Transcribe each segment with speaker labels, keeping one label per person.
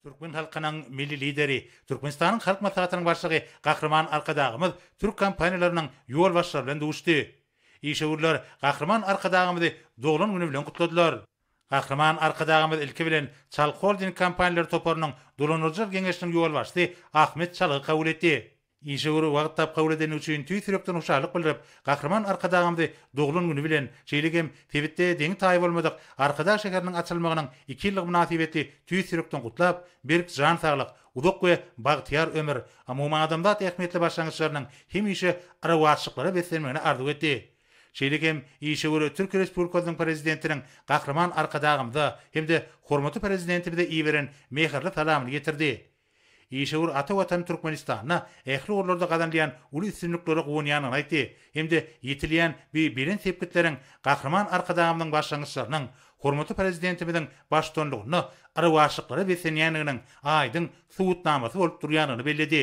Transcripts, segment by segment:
Speaker 1: Türkmen halkynyň Milli Lideri, Türkmenistanyň Halk Maslahatynyň Başlygy Gahryman Arkadagymyz türk kompaniýalarynyň ýolbaşçylary bilen duşdy. Işewürler Gahryman Arkadagymyzy doglan güni bilen gutladylar. Gahryman Arkadagymyz ilki bilen Çal holding kompaniýalary toparynyň dolandyryjylar geňeşiniň ýolbaşçysy Ahmet Çalygy kabul etdi. Işewür wagt tap kabul edeni üçin tüýs ýürekden hoşallyk bildirip, Gahryman Arkadagymyzy doglan güni bilen, şeýle hem sebitde deňi-taýy bolmadyk Arkadag şäheriniň açylmagynyň iki ýyllygy mynasybetli tüýs ýürekden gutlap, berk jan saglyk, uzak we bagtyýar ömür, umumadamzat ähmiýetli başlangyçlarynyň hemişe rowaçlyklara beslenmegini arzuw etdi. Şeýle hem işewür Türkiýe Respublikasynyň Prezidentiniň Gahryman Arkadagymyza hem-de hormatly Prezidentimize iberen mähirli salamyny ýetirdi. Işewür ata Watany Türkmenistanda ähli ugurlarda gazanylýan uly üstünliklere guwanýandygyny aýtdy hem-de ýetilýän bu belent sepgitleriň Gahryman Arkadagymyzyň başlangyçlarynyň hormatly Prezidentimiziň baştutanlygynda ylabaşlyklara beslenýändiginiň aýdyň subutnamasy bolup durýandygyny belledi.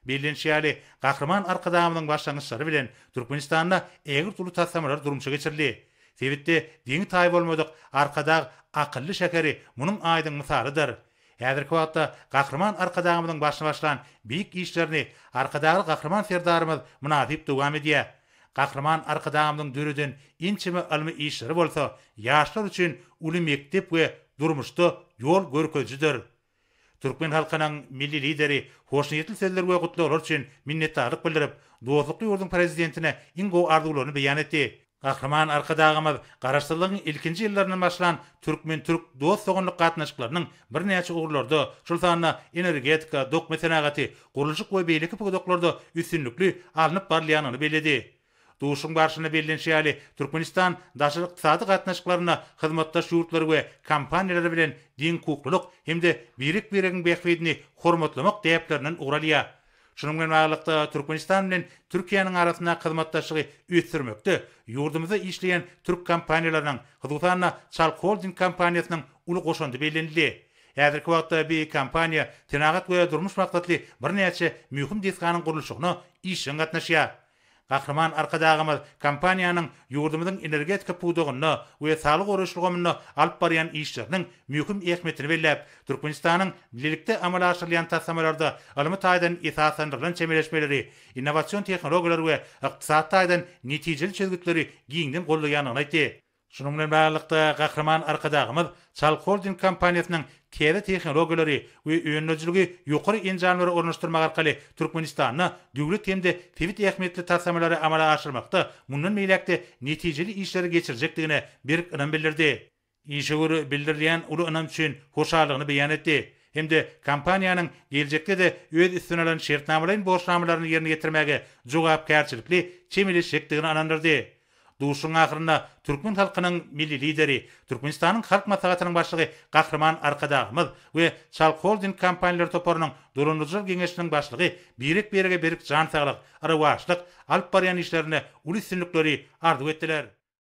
Speaker 1: Bellenişi ýaly, Gahryman Arkadagymyzyň başlangyçlary bilen Türkmenistanda ägirt uly taslamalar durmuşa geçirildi. Sebitde deňi-taýy bolmadyk Arkadag akylly şäheri munuň aýdyň mysalydyr. Häzirki wagtda Gahryman Arkadagymyzyň başyny başlan beýik işlerini Arkadagly Gahryman Serdarymyz mynasyp dowam edýär. Gahryman Arkadagymyzyň döreden ençeme ylmy işleri bolsa ýaşlar üçin uly mekdep we durmuşda ýol görkezijidir. Türkmen halkynyň Milli Lideri hoşniýetli sözler we gutlaglar üçin minnetdarlyk bildirip, dostlukly ýurduň Prezidentine iň gowy arzuwlaryny beýan etdi. Gahryman Arkadagymyz Garaşsyzlygyň ilkinji ýyllaryndan başlan türkmen-türk dost-doganlyk gatnaşyklarynyň birnäçe ugurlarda, şol sanda energetika, dokma senagaty, gurluşyk we beýleki pudaklarda üstünlikli alnyp barylýandygyny belledi. Duşuşygyň barşynda bellenişi ýaly, Türkmenistan daşary ykdysady gatnaşyklarynda hyzmatdaş ýurtlary we kompaniýalary bilen deňhukuklylyk hem-de birek-biregiň bähbidini hormatlamak däplerinden ugur alýar. Şunuň bilen baglylykda, Türkmenistan bilen Türkiýäniň arasyndaky hyzmatdaşlygy ösdürmekde ýurdumyzda işleýän türk kompaniýalarynyň, hususan-da, Çalk Holding kompaniýasynyň uly goşandy bellenildi. Häzirki wagtda bi kompaniýa senagat we durmuş maksatly birnäçe möhüm desganyň gurluşygyna işjeň gatnaşýar. Gahryman Arkadagymyz kompaniýanyň ýurdumyzyň energetika pudagynda we saglygy goraýyş ulgamynda alyp barýan işleriniň möhüm ähmiýetini belläp, Türkmenistanyň bilelikde amala aşyrylýan taslamalarda ylmy taýdan esaslandyrylan çemeleşmeleri, innowasion tehnologiýalary we ykdysady taýdan netijeli çözgütleri giňden goldaýandygyny aýtdy. Şunuň bilen baglylykda, Gahryman Arkadagymyz Çalk Holding kompaniýasynyň täze tehnologiýalary we öndürijiligi ýokary enjamlary ornaşdyrmak arkaly Türkmenistanda döwlet hem-de sebit ähmiýetli taslamalary amala aşyrmakda mundan beýläk-de netijeli işleri geçirjekdigine berk ynam bildirdi. Işewür bildirilýän uly ynam üçin hoşallygyny beýan etdi hem-de kompaniýanyň geljekde-de öz üstüne alan şertnamalaýyn borçnamalaryny ýerine ýetirmäge jogapkärçilikli çemeleşjekdigine ynandyrdy. Duşuşygyň ahyrynda türkmen halkynyň Milli Lideri, Türkmenistanyň Halk Maslahatynyň Başlygy Gahryman Arkadagymyz we Çalk Holding kompaniýalary toparynyň dolandyryjylar geňeşiniň başlygy birek-birege berk jan saglyk, rowaçlyk, alyp barýan işlerinde uly üstünlikleri arzuw etdiler.